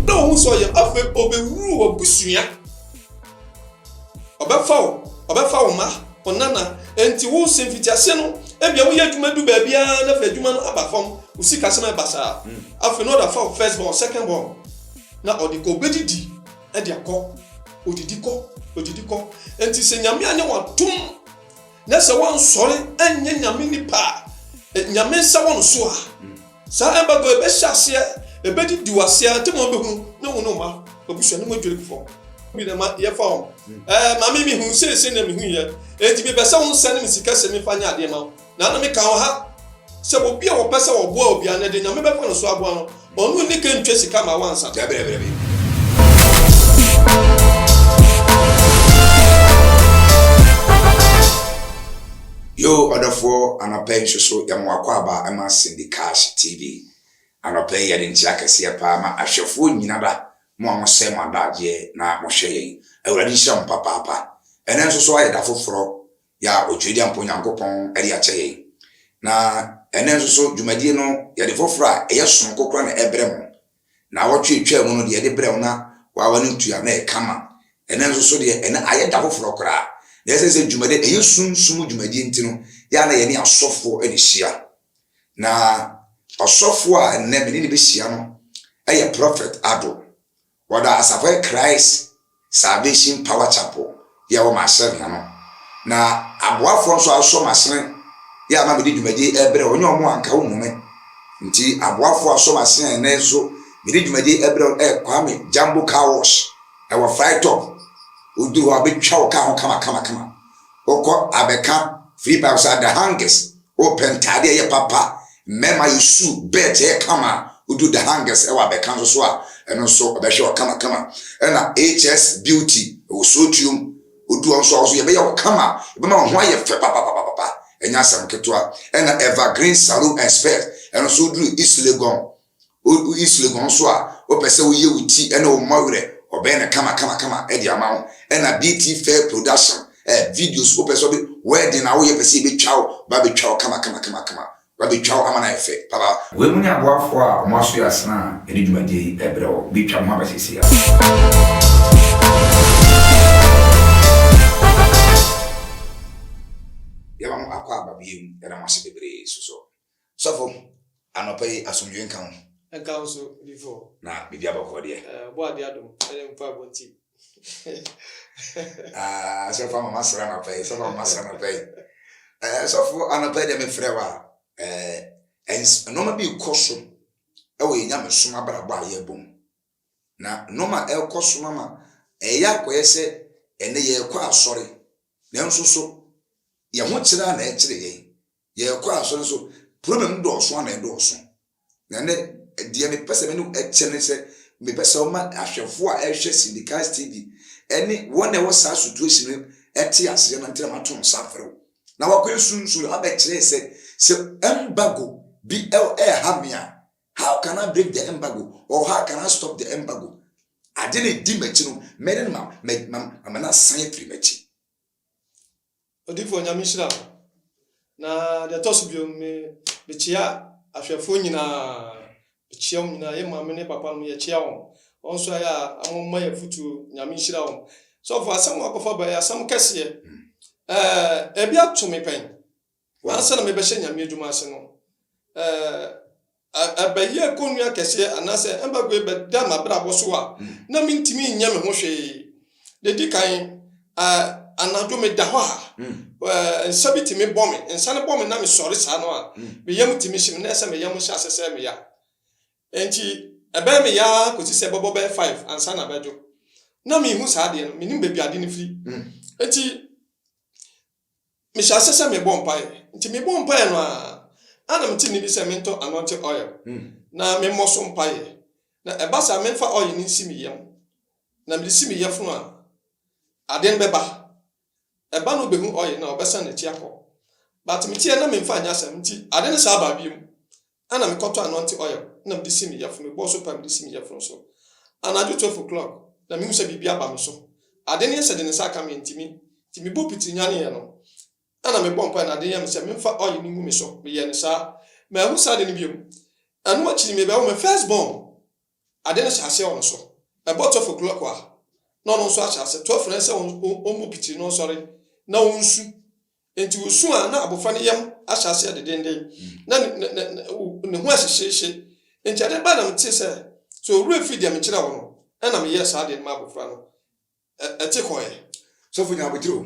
Na ɔhu sɛ ɔyɛ afei ɔbɛwuru w'abusua. Ɔbɛfa wo, ɔbɛfa wo mma, wo nana. Enti wo sɛ mfitiaseɛ no, ebia woyɛ adwuma du baabiara na afei adwuma no aba fam, wo sikasɛm ɛba saa. Afei na ɔde afa wo first born, second born na ɔde kɔ, ɔbɛdidi de akɔ, ɔdidi kɔ, ɔdidi kɔ. Enti sɛ Nyame anyɛ wo adom, Na sɛ wɔansɔre anyɛ nyame nnipa a, nyame nsa wɔ no so a, saa embargo yi bɛhyɛ aseɛ, ɛbɛdidi wo aseɛ ara, ntɛm ara wobɛhunu na wo ne wo mma, w'abusua ne mo adwiri gu fam. Bi na ɛma yɛfa wɔn. Ɛɛ, maame, mehu sei sɛnea mehuiɛ, enti mepɛ sɛ wonsɛne me sika sɛ memfa nyɛ adeɛ mma wo. Na na meka wɔ ha sɛ obi a ɔpɛ sɛ ɔboa obiara no, ɛde nyame bɛfa no so aboa no. Ɔno nni kan ntwa sika ma wo ansa. Yoo ɔdɔfoɔ anɔpa yi nso so yɛma w'akwaaba ma Cindy Cash TV anɔpa yi yɛde nkyea kɛseɛ paa ma ahwɛfoɔ nyina da mo a mo sɛe mo adagyeɛ na mo hwɛ yɛn awurade nhyira mo papaapa ɛnɛ nso so ayɛ da foforɔ yɛ a ɔtwiri de ampa Onyankopɔn de akyɛ yɛn. Na ɛnnɛ nso so dwumadie no yɛde foforɔ a ɛyɛ sononko koraa na ɛbrɛ mo. Naawɔtwe a ɛtwaa mu no deɛ yɛde brɛɛ wo na woawa no ntua na ɛyɛ kama. Ɛnnɛ nso so deɛ ɛnnɛ ayɛ da foforɔ koraa. Na ɛsɛ sɛ dwumadie ɛyɛ sunsum mu dwumadie nti no yɛ a na yɛne asɔfoɔ na ɛhyia. Na ɔsɔfoɔ a ɛnnɛ me ne no bɛhyia no yɛ Prophet Addo. Wɔda Asafo Christ Salvation Power Chapel yɛ wɔ m'ahyɛn ho no, na aboafoɔ nso asɔ m'ahyɛn yɛ ama mede dwumadie ɛbrɛ wɔn, nyɛ wɔn a nka wohu me, nti aboafoɔ asɔ m'ahyɛn ɛnnɛ nso mede dwumadie ɛbrɛ wɔn ɛyɛ Kwame Jumbo Car Wash ɛwɔ Fry Top, woduru hɔ a bɛtwa wo car ho kama kama kama, wokɔ a bɛka free pipes are the hangest Wopɛ ntaade a ɛyɛ papa a, mmarima yɛ su, bɛɛt yɛ kama, wodu the hangers wɔ abɛka nso so a, ɛno nso ɔbɛhwɛ wo kamakama. Ɛna HS Beauty wɔ Sootuom, wodu hɔ nso a, wo nso yɛbɛyɛ wo kama, yɛbɛma wo ho ayɛ fɛ papapapapa, ɛnyɛ asɛm ketewa. Ɛna Evergreen Saloon and Spas, ɛno nso woduru East Legon Wosuasua hɔn so a, wɔpɛ sɛ woyɛ wo tsir na wo mma werɛ, wɔbɛyɛ no kamakamakama dze ama wo. Nna Beatty Fair Production ayɛ video so, wopɛ sɛ ɔde wedding a woyɛ pɛ sɛ yebetwa wo, wɔabetwa wo kamakamakama, wɔabetwa wo ama no ayɛ fɛ papaapa. Wei mu nye aboafo a wɔn aso yɛ asen a yɛde dwumadie yi rebrɛ wo. Bi twa me ho aba seesei ara. Yɛma mo akwaaba bio. Yɛda mo ase bebree nso so. Sɔfo, anɔpa yi asomdwoe nka wo. Ɛnka wo nso bi fɔ. Na biribi abɔ kɔɔ deɛ. Ɛɛ ɔbɔ adeɛ adom ɛne mpaebɔ nti. Aa sɔfo ama masra anɔpa yi, sɔfo ama masra anɔpa yi. Ɛɛ sɔfo anɔpa yi deɛ mefrɛ wa ɛɛ ɛns nneɛma bi rekɔ so ɛwɔ yɛn nyamesom abrabɔ a yɛrebɔ mu. Na nneɛma a ɛrekɔ so no ama ɛyɛ akɔyɛ sɛ ɛnɛ yɛrekɔ asɔre nanso so yɛn ho kyere a na ɛkyere yɛn. Yɛkɔ asɔre so problem no dɔɔso a na ɛdɔɔso na ɛnɛ deɛ mepɛ sɛ me ne ɛkyɛ ne sɛ mepɛ sɛ ɔma ahwɛfoɔ a ɛhwɛ Syndicast TV ɛne wɔn a ɛwɔ saa situation no ɛte aseɛ na ntina mato nsa afrɛ wo na wakɔ ɛsunsu na wabɛkyerɛ sɛ sɛ embargo bi ɛha me a how can I break the embargo or how can I stop the embargo ade na ɛdi m'akyi no mɛne no ma ma ma ma na san afiri m'akyi Odiyifoɔ Nyame nhyira wo. Na deɛ ɛtɔ so bio me mekyea ahwɛfoɔ nyinaa. Mekyea wɔn nyinaa. Yɛ maame ne papa no yɛkyea wɔn. Wɔn nso ayɛ a wɔn ma yɛ afutuo. Nyame nhyira wɔn. Sɔfo asɛm a wakɔfa ba yɛ asɛm kɛseɛ. Ɛɛ ebi ato me pɛn. Ansa na mebɛhyɛ Nyame adwuma ase no, eh, ɛbɛyɛɛ kɔnnua kɛseɛ anaasɛ embargo yi bɛda m'abrabɔ so a, na mentumi nyɛ me ho hwee. Deɛ ɛdi kan, eh, anadwo meda hɔ a, eh, nsa bi tumi bɔ me. Nsa no bɔ me na mesɔre saa no a, me yam tumi hye me na ɛyɛ sɛ me yam hyɛ ase sɛe me ya. Enti ɛbɛyɛ me ya ara kɔsi sɛ ɛbɛbɔ bɛyɛ five ansa na abɛdwo. Na menhu saa adeɛ no, mennim baabi a adeɛ no firi. Enti Mehyɛ aseɛ sɛ mebɔ mpaeɛ, nti mebɔ mpaeɛ no ara a na mete nne bi sɛ mentɔ anointing oil na memmɔ so mpaeɛ, na ɛba saa memfa oil no nsi me yam, na mede si me yafunu a, adeɛ no bɛba. Ɛba no wobɛhu oil no a, ɔbɛsan n'akyi akɔ. But meteɛ na memfa nyɛ asɛm, nti ade no saa baa bio, Ana me kɔtɔ anointing oil na mede si me yafunu, mebɔɔ so paa mede si me yafunu so. Anadwo twelve o'clock na mehu sɛ biribi aba me so. Ade no yɛ sɛ de ne nsa aka me ɛntimi, nti mebɔ pitiri nyaneeɛ no. Ana mebɔ mpaeɛ na ade yɛ me sɛ memfa oil no ngu me so, meyɛɛ no saa. Manhu saa ade no biom. Ɛno akyiri mebɛwo me first born. Ade no hyɛ aseɛ wɔ no so. Ɛbɔ twelve o'clock a, na ɔno nso ahyɛ aseɛ. Twelve no ɛsɛ sɛ ɔbɔ pitiri na ɔsɔre na ɔnsu. Nti ɔsu a, na abɔfra no yam ahyɛ aseɛ dedenden. Na ne ho ahyehyeehye. Nti adeɛ baa na metee sɛ, sɛ ɔwerɛ firi deɛ mekyerɛɛ wo no, ɛna meyɛɛ saa adeɛ no maa abɔfra no. Ɛte kɔeɛ. Sɔfo nya abotire o.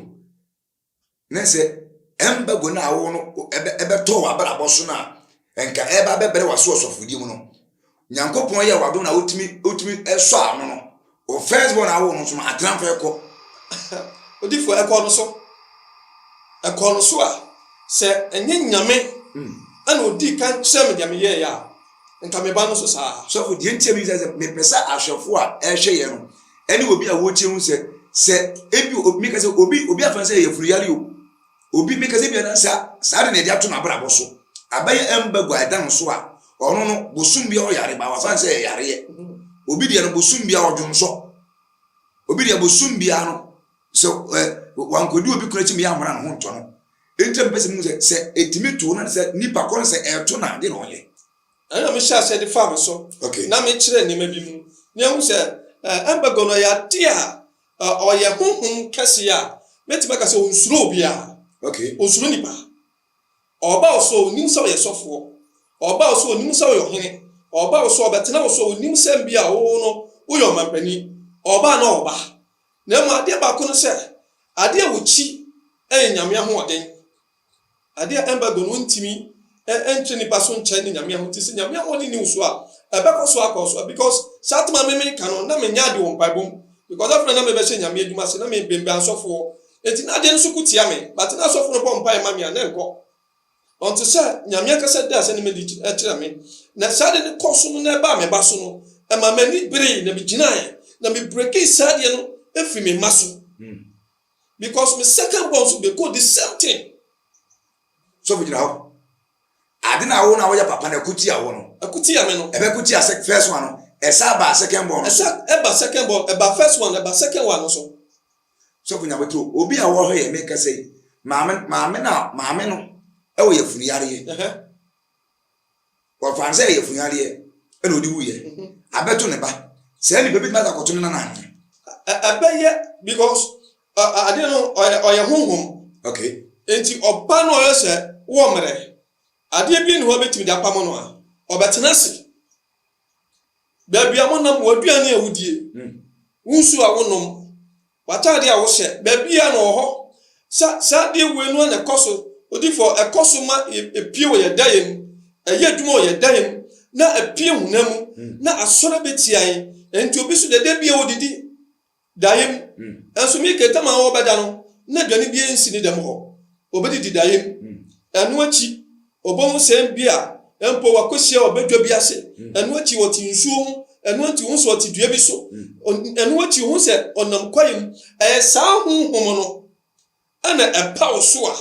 na sɛ ɛmbago no a wowɔ no ɛbɛtɔ w'abrabɔ so no a, nka ɛba bɛbrɛ w'aso ɔsɔfodie mu no. Nyankopɔn yɛ w'adom na wotumi wotumi sɔ ano no. Wo first born a wowɔ no nso no atena mfa ɛkɔ. Odifoɔ ɛkɔ no so. Ɛkɔ no so a, sɛ ɛnyɛ Nyame hmm. ɛna ɔdii kan kyerɛ me deɛ meyɛɛ a, Nka me ba no nso saa. Sɔfo, deɛ nti a mebisa sɛ, mepɛ sɛ ahwɛfo a ɛrehwɛ yɛn no ɛne obi a wɔretie hu sɛ, sɛ ebi obi meka sɛ obi obi afa sɛ yɛfunu yare o, obi meka sɛ bi anan saa saa de na ɛde ato n'abrabɔ so. Abɛyɛ ɛmba gua ɛda no so a, ɔno no bosom bia ɔyare ba wafa sɛ ɛyareɛ. Obi deɛ no bosom bia ɔdwonsɔ. Obi deɛ bosom bia no So ɛ wankɔdi obi kunu akyi ma yɛammara ne ho ntɔ no? Enti na mepɛ sɛ muhu sɛ, sɛ ɛtumi to na sɛ nnipa korɔ no sɛ ɛreto no a, deɛ na ɔnyɛ. Ɛno na mehyɛɛ aseɛ de faa me so okay. na mekyerɛɛ nneɛma bi mu na yɛahu sɛ ɛ embargo no ɔyɛ adeɛ a ɛ ɔyɛ honhom kɛseɛ a mɛtumi aka sɛ ɔnsuro obiara, okay. ɔnsuro nnipa, ɔba wo so ɔnim sɛ ɔyɛ sɔfoɔ, ɔba wo so ɔnim sɛ ɔyɛ ɔhene, ɔba wo so ɔbɛtena wo so ɔnim sɛ mbia wo no woyɛ ɔmampanin, ɔba na ɔba Na mmom adeɛ baako ne sɛ, adeɛ a wɔkyi yɛ Nyame ahoɔden. Adeɛ a embargo no ntumi nkyere nipa so nkyɛ ne Nyame ahoɔden. Nti sɛ Nyame ahoɔden nni wo so a, ɛbɛkɔ so akɔ so. Because saa tema me meka no, na menyɛ ade wɔ mpaebɔ mu. Because afei na na mebɛhyɛ Nyame adwuma ase, na mebenbɛn asɔfoɔ. Nti na adeɛ no so ko tia me. But na asɔfo no bɔ mpaeɛ ma me a, na ɛnkɔ. Ɔte sɛ Nyame ankasa daa asɛnneɛm adi kyerɛɛ me, na saa ade no kɔɔ so no na ɛbaa me ba so no, ɛmaa m'ani beree na migyinae na me breakii saa adeɛ no firi me mma so. Because me second born so bɛkɔɔ the same thing. Sɔfo gyina hɔ. Ade na awo na woyɛ papa na ɛko tia wo no. Ɛko tia me no. Ɛbɛko tia first one no. Ɛsa ba second born no so. Ɛsa ɛba second born, ɛba first one, ɛba second one no so. Sɔfo Nyaboto, obi a ɔwɔ ha yi mekasa yi, maame maame na maame no ɛwɔ yɛfunu yareɛ. Wɔfa sɛ yɛfunu yareɛ ɛna ɔde wuyɛ. Mhm. Abɛto ne ba. Sɛ nipa bi tuma ta kɔto ne nana ahene. Ɛbɛyɛ because ade no ɔyɛ ɔyɛ honhom. Okay. Nti ɔba no ɔyɛ sɛ wɔ mmerɛ. Adeɛ bi ne hɔ bɛtumi de apamo no a ɔbɛtena ase. baabi a monam, w'aduane a wodie, wo nsuo a wonom, w'atadeɛ a wohyɛ, baabiara na ɔwɔ hɔ. Sa, saa adeɛ wei no ara na ɛkɔ so, odifoɔ, ɛkɔ so ma ɛpie wɔ yɛn daeɛ mu, ɛyɛ adwuma wɔ yɛn daeɛ mu, na ɛpie honam mu, na asɔre bɛtia yɛn. Ɛnti obi so deɛ, da biara ɔdidi. Daim, nso me kɛntɛm a ɔrebɛda no, na aduane biara nsi ne dɛm hɔ. Obedidi daim. Ɛno akyi, obehu sɛn bi a mpo wakohyia ɔbadwa bi ase. Ɛno akyi, ɔte nsuo ho. Ɛno akyi, ohu sɛ ɔte dua bi so. Ɛno akyi, ohu sɛ ɔnam kwaeɛ mu. Ɛyɛ saa honhom no. Ɛna ɛpaw so a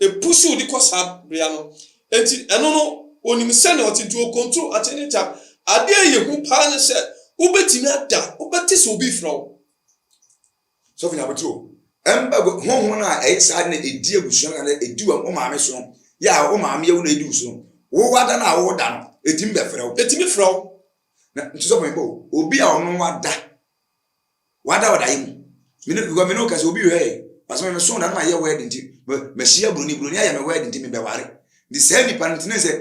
epusuw de kɔ saa bea no. Enti ɛno no, onim sɛnea ɔte, nti okontro ate ne ntam. Ade a ɛyɛ hu paa ne sɛ, wubetumi ada, wobɛte sɛ obi refrɛ wo. Sɔfo Nyabotew, ɛmma gu, honhom no a ɛyɛ saa na edi abusua no anaa edi wo maame so no yɛ a wo maame yɛ wo na edi wo so no, wowɔ ada no a woda no, etumi bɛfrɛ wo. Etumi frɛ wo. Na nti sɔfo mebɔ obi a ɔno wada. wada ɔdaeɛ mu me ne because me ne wo kasa obi hwɛ basa me so na no ayɛ word nti mahyia buroni buroni ayɛ me word nti mebɛware nti saa nipa no tene sɛ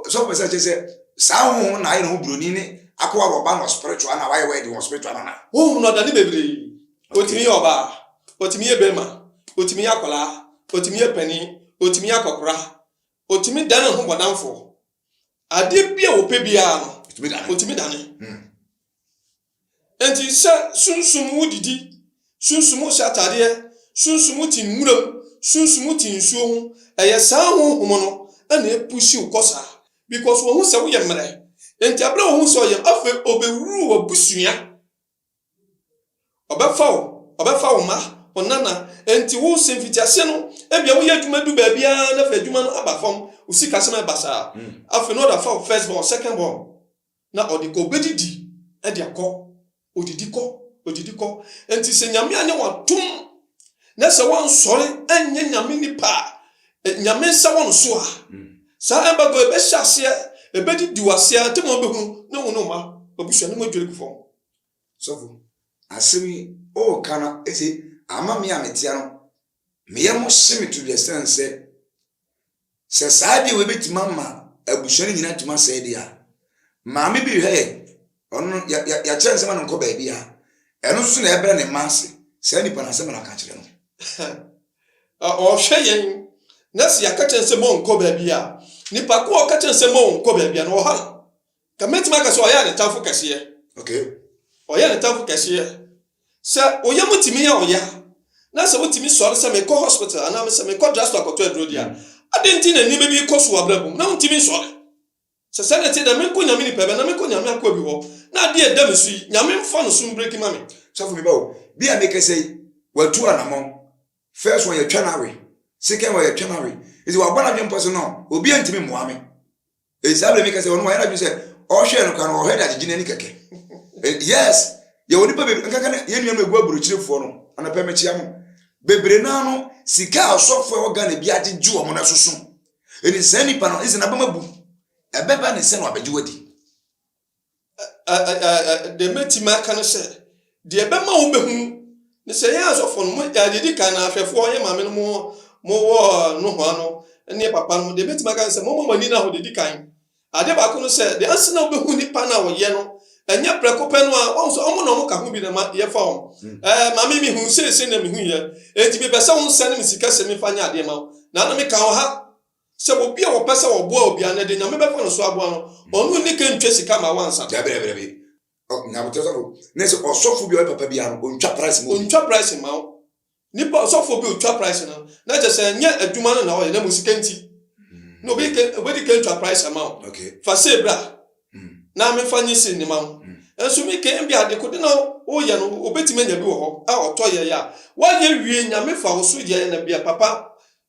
sɔfo sɛ kyɛ sɛ saa honhom na ayɛ ne ho buroni ne akowa wɔ ɔba no spiritual na wayɛ word wɔ spiritual no na honhom no ɔdane bebree otumi yɛ ɔbaa otumi yɛ bɛrima otumi yɛ akwadaa otumi yɛ panin otumi yɛ akɔkora otumi dane ho bɔdamfoɔ adeɛ bi a wɔpɛ biara no otumi dane hmm. Enti sɛ sunsum wo didi, sunsum wo hyɛ atadeɛ, sunsum wo te nwura mu, sunsum wo te nsuo ho, ɛyɛ saa honhom no na ɛpushi wo kɔ saa because wɔhu sɛ woyɛ mmerɛ. Enti aberɛ a wɔhu sɛ ɔyɛ, afei ɔbɛwuru w'abusua. Ɔbɛfa wo, ɔbɛfa wo mma, wo nana. Enti wo sɛ mfitiaseɛ no, ebia woyɛ adwuma du baabi ara na afei adwuma no aba fam, wo sikasɛm ɛba saa. Afei na ɔde afa wo first born, second born. Na ɔde obedidi de akɔ, odidi kɔ, odidi kɔ. Enti sɛ Nyame anyɛ wo atom na sɛ woansɔre anyɛ Nyame nipa a Nyame nsa wɔ no so a, saa embargo yi bɛhyɛ aseɛ, ebedidi wo aseɛ, ntɛm ara wobɛhunu na wo ne wo mma, w'abusua ne mo adwiri gu fam. Sɔfo, asɛm yi woka no te ama me a metea no Me yam hye me todwe ɛsiane sɛ, sɛ saa adeɛ wei bɛtumi ama abusua no nyinaa atumi asɛe deɛ a, maame bi rehwɛ yɛn, ɔno no yɛakyerɛ nsɛm ano nkɔ baabi a, ɛno nso na ɛbrɛ ne mma ase, saa nipa no asɛm na aka kyerɛ no. Ɔhwɛ yɛn, na sɛ yɛaka kyerɛ sɛ monkɔ baabi a, nipa ko a ɔka kyerɛ sɛ monkɔ baabi a no ɔha no. Nka mɛtumi aka sɛ ɔyɛɛ ne tamfo kɛseɛ. Okay. Ɔyɛɛ ne tamfo kɛseɛ. Sɛ wo yam tumi yɛ wo ya, na sɛ wotumi sɔre sɛ mekɔ hospital anaa me sɛ mekɔ drugstore akɔtɔ aduro di a, mm. adɛn nti na nneɛma bi kɔ so wɔ abrabɔ mu na wontumi nsɔre? Sɛ sɛ na ɛte dɛ, menkɔ Nyame nipa bɛ na menkɔ Nyame akoa bi hɔ, na adeɛ ɛda me so yi, Nyame mfa no so mbreki ma me. Sɔfo bi ba o, bi a mekɛsɛ yi, watu anamɔn. First one yɛtwa no awe, second one yɛtwa no awe. Nti wabɔ n'adwempɔ sɛ no, obi antumi mmoa me. Esia bere mi kɛse ɔno wayɛ n'adwene sɛ ɔhwɛ no kan ɔhwɛ de agyegye n'ani kɛkɛ. Eh, yes, yɛwɔ nipa bebree nkanka na yɛn nuanom egu aburokyirefoɔ no anɔpɛ mekyia mo. Bebree naa no sika a ɔsɔfo a ɛwɔ Ghana bi agyegye wɔn no ɛsoso. Ɛni saa nipa no ɛsɛ n'abam abu. Ɛbɛba ne sɛ na wabɛgye wadi. deɛ mɛtumi aka no sɛ deɛ ɛbɛma wo bɛhunu ne sɛ yɛ asɔfo no yɛdi kan no ahwɛfoɔ yɛ maame no mowɔ nohoa no ne papa no deɛ mɛtumi aka no sɛ moma mani no aho deɛ di kan adeɛ baako no sɛ deɛ ansa na wobɛhu nipa no a wɔyɛ no ɛnyɛ prɛko pɛ no a wɔn sɛ wɔn na wɔn ka ho bi na ma yɛfa wɔn ɛɛ maame mi hu seese na mi hu yɛ eti mi pɛ sɛ wɔn sɛ ne mi sika sɛ mi fa nyɛ adeɛ ma wɔn na na mi ka wɔn ha Sɛ obi a ɔpɛ sɛ ɔboa obi a na ɛde Nyame bɛfa no so aboa no, ɔno nni kan ntwa sika ma wansa. Dabi, dabi, dabi. Nyaboterɛ sɔfo ne sɛ ɔsɔfo bi a ɔyɛ papa biara no, ɔntwa praese ma obi. Ɔntwa praese mma wo. Nipa, ɔsɔfo bi a ɔtwa praese no, na kyerɛ sɛ ɛnyɛ adwuma no na ɔyɛ, na mmom sika nti na obi kan, obedi kan atwa praese ama wo. Okay. Fa sei bra na memfa nye sei nima wo. Nanso me kan ebia adekode na woyɛ no, obetumi anya bi wɔ hɔ a ɔtɔ yɛe a, woayɛ awie, Nyame fa wo so yɛ na bia papa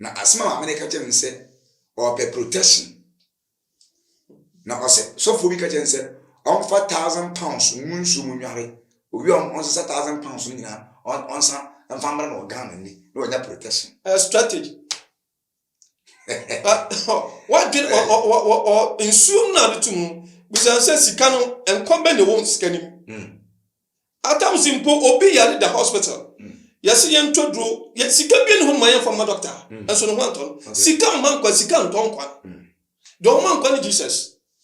Na asɛm a maame no ka kyerɛ me ne sɛ ɔpɛ protection. Na ɔsɛ sɔfoɔ bi ka kyerɛ no sɛ ɔmfa thousand pounds ngu nsuo mu nnware. Owie a ɔnsesa thousand pounds no nyinaa ɔnsa mfa mmra no wɔ Ghana ni na wanya protection. Ɛyɛ strategy. Wadwene ɔ ɔ ɔ ɔ ɔ nsuo no na ade tum no bisa no sɛ sika no nkwa bɛn na ɛwɔ sika no mu. Hmm. Adams mpo obi yare da hospital yɛse yɛntɔ duro yɛ sika bia ne hɔ ma yɛmfa mma doctor nso ne ho antɔ no sika mma nkwa sika ntɔ nkwa deɛ ɔma nkwa ne Jesus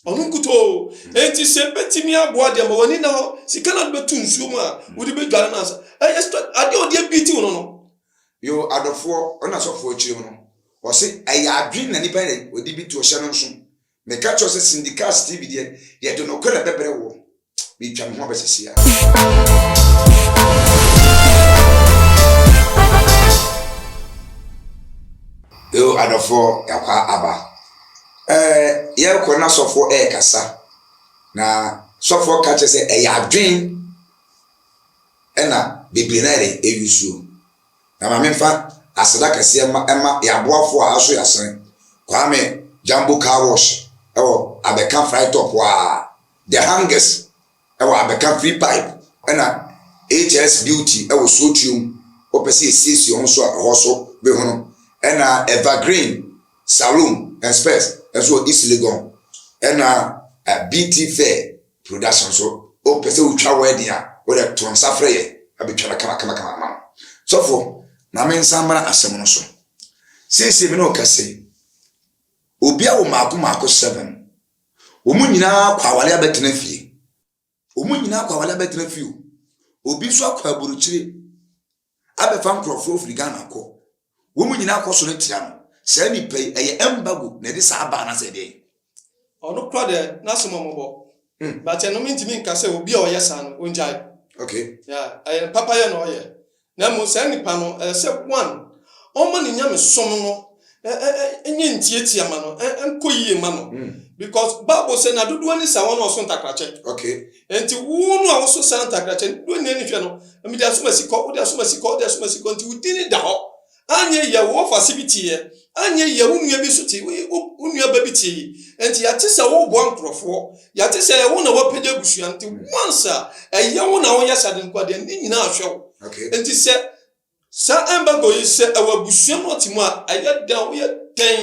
ɔno nkutoo enti sɛ bɛtumi aboa deɛ ma w'ani na hɔ sika na bɛtu nsuo mu a wode bɛdware no ansa ɛyɛ adeɛ ɔde abiti wo no no yo adɔfoɔ ɔna sɔfoɔ akyire mu no ɔse ɛyɛ adwene na nipa na ɔde bi to ɔhyɛ no nso Meka kyerɛ wo sɛ Cindy Cast TV deɛ yɛde nokorɛ bɛbrɛ woɔ. Meretwa me ho aba sisi ara. Yo adɔfoɔ yɛakɔ aba. Ɛɛ yɛrekɔ na sɔfoɔ ɛrekasa na sɔfoɔ ka kyerɛ sɛ ɛyɛ adwen ɛna bebree na yɛde ɛyusuo. Na ma memfa aseda kɛseɛ mma mma yɛn aboafoɔ a aso yɛn asene, Kwame Jumbo Car Wash wɔ Abeka Fry Top a, The Hangers wɔ Abeka Free Pipe ɛna HS Beauty wɔ Suotuom, wopɛ sɛ yɛsiesie wo ho nso a ɛhɔ nso bɛhunu, ɛna Evergreen Saloon and Spares nso wɔ East Legon, ɛna Beauty Fair. Production so wo pɛ sɛ wo twa wedding a wo dɛ to nsa frɛ yɛn na bɛ twa no kama kama kama ama wo. Sɔfo ma me nsa mmra asɛm no so. Seesei me ne wo kɛse. Obi awo maako maako seven. Wɔn nyinaa kɔ awale abɛtena fie. Wɔn nyinaa kɔ awale abɛtena fie o. Obi nso akɔ aburukyire. abɛfa nkorɔfoɔ afiri Ghana akɔ, wɔn nyinaa kɔ sɔre tia no, saa nipa yi ɛyɛ embargo na ɛde saa baa anaasɛ ɛdeɛn? Ɔno kora deɛ n'asomammɔbɔ but ɛno mentumi nka sɛ obi a ɔyɛ saa no ɔngyae Okay. yeah, ɛyɛ no papayɛ na ɔyɛ na mmom saa nipa no ɛsɛ one ɔma ne nyamesom no nyɛ ntiatia ma no nkɔ yie ma no hmm. because bible sɛ na dodoɔ ne saa wɔn a ɔso ntakrakyɛ okay nti wo no a woso saa ntakrakyɛ ne dodoɔ nyɛ ne hwɛ no mede asoma si kɔ wode asoma si kɔ wode asoma si kɔ nti wo din da hɔ anyɛ yɛ wo wɔfase bi teɛ anyɛ yɛ wo nua bi nso te wo nua ba bi teɛ yi nti yɛate sɛ woboa nkurɔfoɔ yɛate sɛ ɛwo na wapagya abusua nti hmm. once a ɛyɛ wo na woyɛ sade nkoadeɛ ne nyinaa hwɛ wo nti sɛ Saa embargo yi sɛ ɛwɔ abusua mu ɔte mu a ɛyɛ dɛn a woyɛ dɛn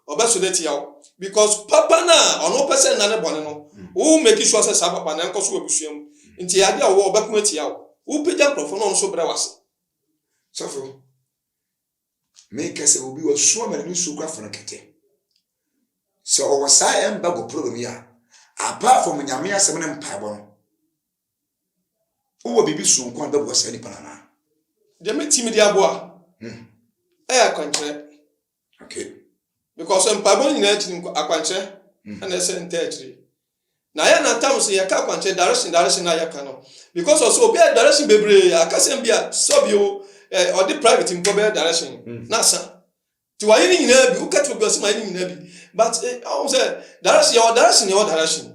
ɔbɛso de atia wo because papa no a ɔno wopɛ sɛ nna ne bɔne no wo make sure sɛ saa papa no ɛnkɔ so wɔ abusua mu nti ɛyɛ ade a wowɔ ɔbɛko atia wo wopagya nkurɔfoɔ na ɔno nso brɛ wase. Sɔfo, meka sɛ obi wɔ suo ama ne nsuo kora fono kɛtɛ. Sɛ ɔwɔ saa embargo problem yi a, apart from Nyame asɛm ne mpaebɔ no, Wowɔ biribi soronko a bɛboa saa nipa no anaa? Deɛ mɛtumi de aboa hmm. ɛyɛ akwankyerɛ. Okay. Because mpaebɔ no nyinaa akyi no akwankyerɛ hmm. ɛna ɛsɛ ntaa akyiri. Na yɛ na tam so yɛka akwankyerɛ direction direction na yɛka no because ɔsɛ obi a direction bebree akasɛm bi a sɔbi o ɔde private mpo bɛyɛ direction hmm. na asa. Nti wayɛ ne nyinaa bi, woka kyerɛ obi a ɔse mayɛ ne nyinaa bi but eh, ɔhu sɛ direction, yɛwɔ direction yɛwɔ direction.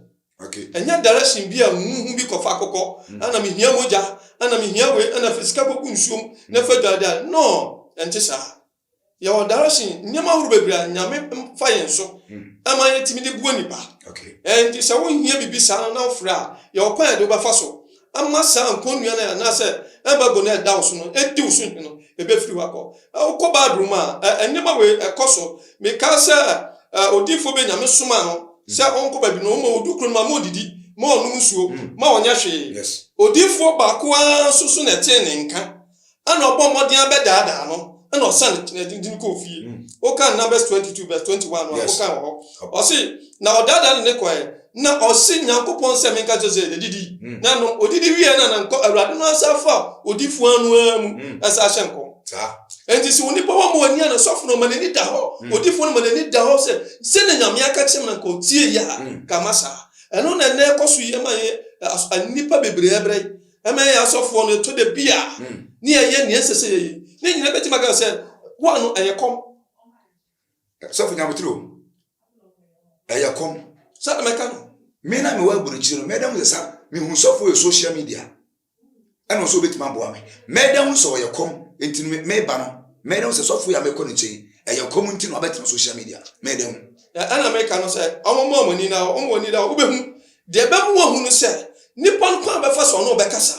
Okay. Ɛnyɛ direction bi a nhuhu bi kɔfa akokɔ, mm. ɛna mehia mogya, ɛna mehia wei, ɛna fi sika kɔgu nsuom, na mm. fa dwaada. No, ɛnte saa. Yɛwɔ direction, nneɛma ahorow bebree a nyame fa yɛn so, mm. ɛma yɛtumi de boa nipa. Okay. Ɛnti sɛ wohia biribi saa no na wofrɛ a, yɛwɔ kwan a yɛde wobɛfa so. ama saa nkonnua no anaasɛ embargo no a ɛda wo so no, edi wo so hene no, ebefiri hɔ akɔ. Wokɔ Bible mu a, nneɛma wei ɛkɔ so. Mekae sɛ odiyifoɔ bi Nyame somaa no sɛ ɔnkɔ baabi na ɔma odu kuro no mu a, ma ɔdidi, ma ɔnom nsuo, ma ɔnyɛ hwee. Odiyifoɔ baako ara nso so na ɛtee ne nka. Ɛna ɔbɔ mmɔden abɛdaadaa no, ɛna ɔsan n'adi no kɔɔ fie. Mm. Wokan Numbers 22 verse 21 no a, yes. wokan wɔ hɔ. Ɔse, na ɔdaadaa no ne kɔɛ, na ɔse Nyankopɔn sɛ menka kyerɛ sɛ yɛdidi. Mm. Na nom, odidi wie na na nkɔ Awurade no asafo a odifo ano ara mu mm. ɛsɛ ahyɛ nkɔm. Enti sɛ onipa wɔ ma ɔni a, na sɔfo no ma n'ani da hɔ, mm. odifo no ma n'ani da hɔ sɛ, sɛ na Nyame aka kyerɛ me na nka ɔtie yɛ a, mm. ka ma saa. Ɛno na ɛnɛ ɛkɔ so yɛ ma yɛ nnipa bebree brɛ Ɛma yɛyɛ asɔfoɔ no, ɛtɔ da bi a ne yɛyɛ nea ɛsɛ sɛ yɛyɛ. Ne nyinaa bɛtumi aka sɛ, wo a no ɛyɛ kɔm. Sɔfo Nyametere o, ɛyɛ kɔm. Sɛ na mɛka no. Me na mewɔ aburokyire no, mɛda hu sɛ sa mehu sɔfo yɛ social media. Ɛna nso obɛtumi aboa me. Mɛda hu sɛ ɔyɛ kɔm, nti no meba no. Mɛda hu sɛ sɔfo yɛ a mekɔ ne nkyɛn, ɛyɛ kɔm nti na wabɛtena social media. Mɛda hu. Ɛna meka no sɛ, ɔmo mɔ ɔmo ani na ɔmo wɔ ani da hɔ, wobɛhu. Deɛ ɛbɛ mu wahu no sɛ, nipa no kwan a ɔbɛfa so a ɔne ɔbɛkasa,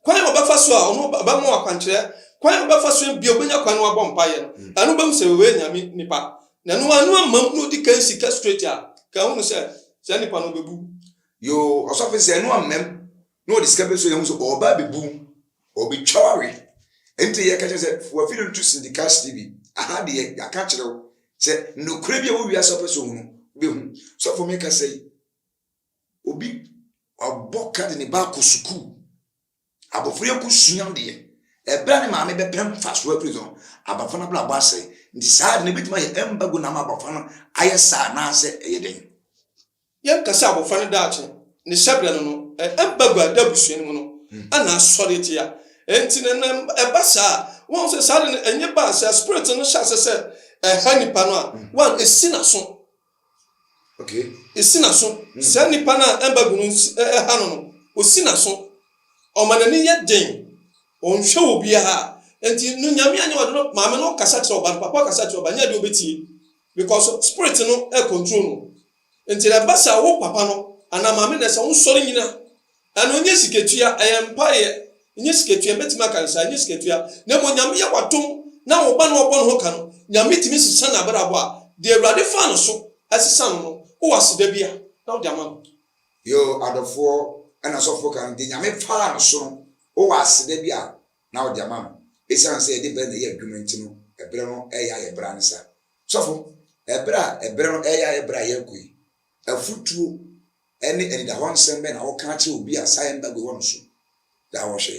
kwan a ɔbɛfa so a ɔne ɔbɛma wo akwankyerɛ, kwan a ɔbɛfa so bia ɔbɛnya kwan na wabɔ mpaeɛ no, ɛno bɛhu sɛ wei yɛ Nyame nipa. Na ɛno ara no amam na ɔdi kan si ka straight a, nka ahunu sɛ saa nipa no ɔbɛbu wo. Yoo, ɔsɔfo sɛ ɛno ammam na ɔde sika bɛsi hɔ a, yɛhu sɛ ɔreba abɛbu wo, ɔbɛtwa wo awe. Ɛnti yɛka kyerɛ sɛ, fa w'afiri no to Syndicast TV, aha deɛ yɛaka akyerɛ wo sɛ nokorɛ bi a ɛwɔ wiase a wopɛ sɛ ɔhunu no, wobɛhu. Sɔfo meka sɛi. Obi ɔbɔ ka de ne ba akɔ sukuu. Abɔfra yi akɔsua adeɛ. Ɛberɛ a ne maame bɛpɛ mfasoɔ afiri so no, abɔfra no abrabɔ asɛe. Nti saa ade no ɛbɛtumi ayɛ ɛmbago na ama abɔfra no ayɛ saa anaasɛ ɛyɛ dɛn? Yɛnka sɛ abɔfra no daakye, ne hyɛberɛ no no, ɛmbago a ɛda abusua no mu no na asɔre tia. Enti no na ɛba saa a, woahu sɛ saa ade no ɛnyɛ baa sɛ spirit no hyɛ aseɛ sɛ ɛha nipa no a, one, ɛsi n'aso. Okay. Esi n'aso. Mm. Saa nipa no a ɛmba gu no ɛha no no, osi n'aso. Ɔma n'ani yɛ den. Ɔnhwɛ wɔ biara. Nti no nyame anyɛ ɔde no maame no kasa kyerɛ ɔba no papa kasa kyerɛ ɔba nyɛ de obetie. Because spirit no ɛ control no. Nti na ɛba sɛ wo papa no anaa maame na ɛsɛ wo nsɔre nyina Ɛno nyɛ sikatua, ɛyɛ mpaeɛ. Nyɛ sikatua, mɛtumi aka no saa, nyɛ sikatua. Na mmom Nyame yɛ w'adom na wo ba no ɔbɔ ne ho ka no, Nyame tumi sesa n'abrabɔ a, deɛ Awurade faa no so sesa no no, wowɔ aseda bi a, na wode ama no. Yoo adɔfoɔ, ɛna sɔfoɔ ka no, deɛ Nyame faa no so no, wowɔ aseda bi a, na wode ama no. Ɛsiane sɛ yɛde berɛ na ɛyɛ adwuma nti no, ɛberɛ no ɛreyɛ ayɛ berɛ ansa. Sɔfo, ɛberɛ a ɛberɛ no ɛreyɛ ayɛ berɛ a yɛrekɔ yi, Afotuo ne anidahɔ nsɛm bɛn na woka kyerɛ obi a saa ɛmma gu hɔ no so daa wɔ hwɛ?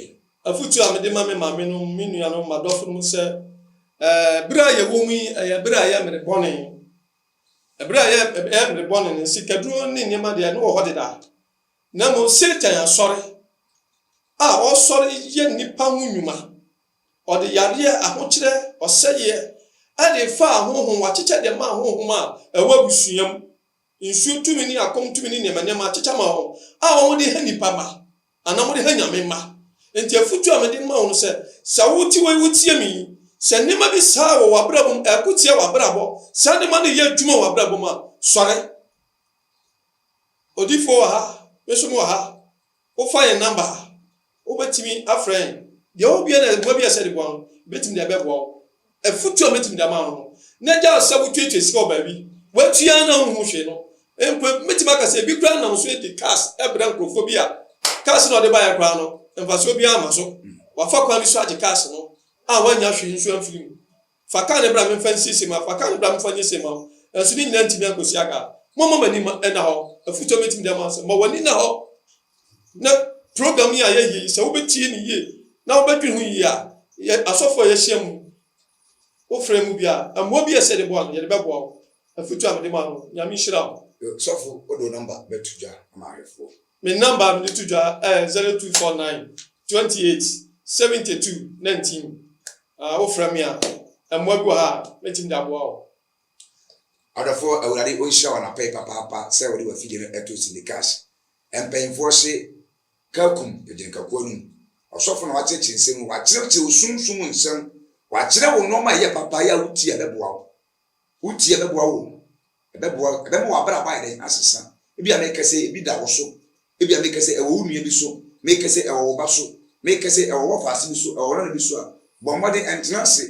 Afotuo a mede ma me maamenom, me nuanom, m'adɔfonom sɛ, eh, bere a yɛwɔ mu yi, ɛyɛ bere a ɛyɛ mmere bɔne. Bere a ɛyɛ, ɛyɛ mmere bɔne no, sikaduro ne nneɛma deɛ, ɛno wɔ hɔ deda. Na mmom Satan asɔre a ɔresɔre yɛ nnipa ho nnwuma Ɔde yadeɛ, ahokyerɛ, ɔsɛeɛ, ɛne nfa a honhom wakyekyɛ de maa honhom a ɛwɔ abusua mu, nsuo tumi ne akɔm tumi ne nneɛma nneɛma akyekyɛ ma wɔn a wɔde ha nnipa mma anaa wɔde ha Nyame mma. Enti afotuo a mede ma wo no sɛ, sɛ wote wei wotie me yi, sɛ nneɛma bi saa wɔ w'abrabɔ mu, ɛko tia w'abrabɔ, saa nneɛma no yɛ adwuma wɔ w'abrabɔ mu a, sɔre. Odiyifoɔ wɔ ha, me nso mewɔ ha. Wofa yɛn number a, wobɛtumi afrɛ yɛn. Deɛ ɔwɔ biara na mmoa bi a ɛsɛ de boa no, yɛbɛtumi de abɛboa wo. Afutuo a mɛtumi de ama wo no, na gyae sɛ wotuatua sika wɔ baabi, woatua ara na wonhu hwee no. Mpo mɛtumi aka sɛ ebi koraa nam so de cars brɛ nkorɔfoɔ bi a, cars no a ɔde baeɛ koraa no, mfasoɔ biara mma so. Wafa kwan bi so agye cars no a wannya hwee nso amfiri mu. Fa kan no bra memfa nsi se ma, fa kan no bra memfa nye se ma wo, nanso ne nyinaa ntumi ankosi aga. Momma mo ani ma ɛna hɔ. Afotu a mɛtumi de ama sɛ, ma w'ani na hɔ na program yi a yɛyɛ yi, sɛ wobɛtie no yie na wobɛdwene ho yie a, yɛ asɔfoɔ a yɛahyia mu wo frɛ mu biara, mmoa bi a ɛsɛ yɛde boa no, yɛde bɛboa wo. Afotu a mede ma no, Nyame nhyira wo. Sɔfo, wode wo number bɛto dwa ama ahwɛfoɔ. Me number a mede to dwa ɛyɛ zero two four nine twenty eight seventy two nineteen. Ah, wofrɛ me a, mmoa bi wɔ ha a mɛtumi de aboa wo. Adɔfoɔ Awurade ɔnhyira wo anapɛyi papaapa sɛ wode wafidie no ɛto Sindikash mpanyinfoɔ hye Kakum Agyenkakuo no mu ɔsɔfo na wakyerɛkyerɛ nsɛm mu wakyerɛkyerɛ wo sumsum nsɛm wakyerɛ wo nnoɔma a ɛyɛ papa yɛ a wotie a ɛbɛboa wo Wo tie bɛboa wo o. Ɛbɛboa, ɛbɛma w'abrabɔ ayɛ dɛn? Asesa. Ebia meka sɛ ebi da wo so. Ebia meka sɛ ɛwɔ wo nua bi so. Meka sɛ ɛwɔ wo ba so. Meka sɛ ɛwɔ w'ɔfaase bi so, ɛwɔ wo nana bi so a, bɔ mmɔden ɛntena ase.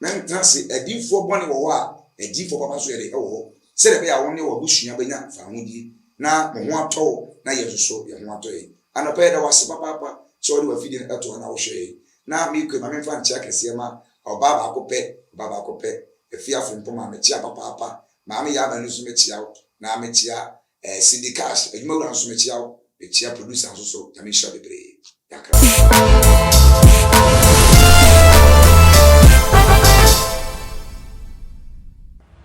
Na ɛntena ase. Adiyifoɔ bɔne wɔ hɔ a, adiyifoɔ papa nso yɛ dɛn? Ɛwɔ hɔ. Sɛdeɛ ɛbɛyɛ a wo ne w'abusua bɛnya fawohodie, na mo ho atɔ wo, na yɛn nso so yɛn ho atɔ yɛn. Anɔpa yi, yɛda wo ase papaapa sɛ wode w'afidie no to hɔ na wohwɛ yɛn. Na me kue ma memfa nkyea kɛseɛ ma ɔbaa baako pɛ, ɔbaa baako pɛ, Afia Frimpong-Mah, mekyea papaapa, Maame Yaa Manu nso mekyea wo, na mekyea eh, Cindy Cash, adwumawura nso mekyea wo, mekyea producer nso so, Nyame nhyira bebree, Yɛakra wo.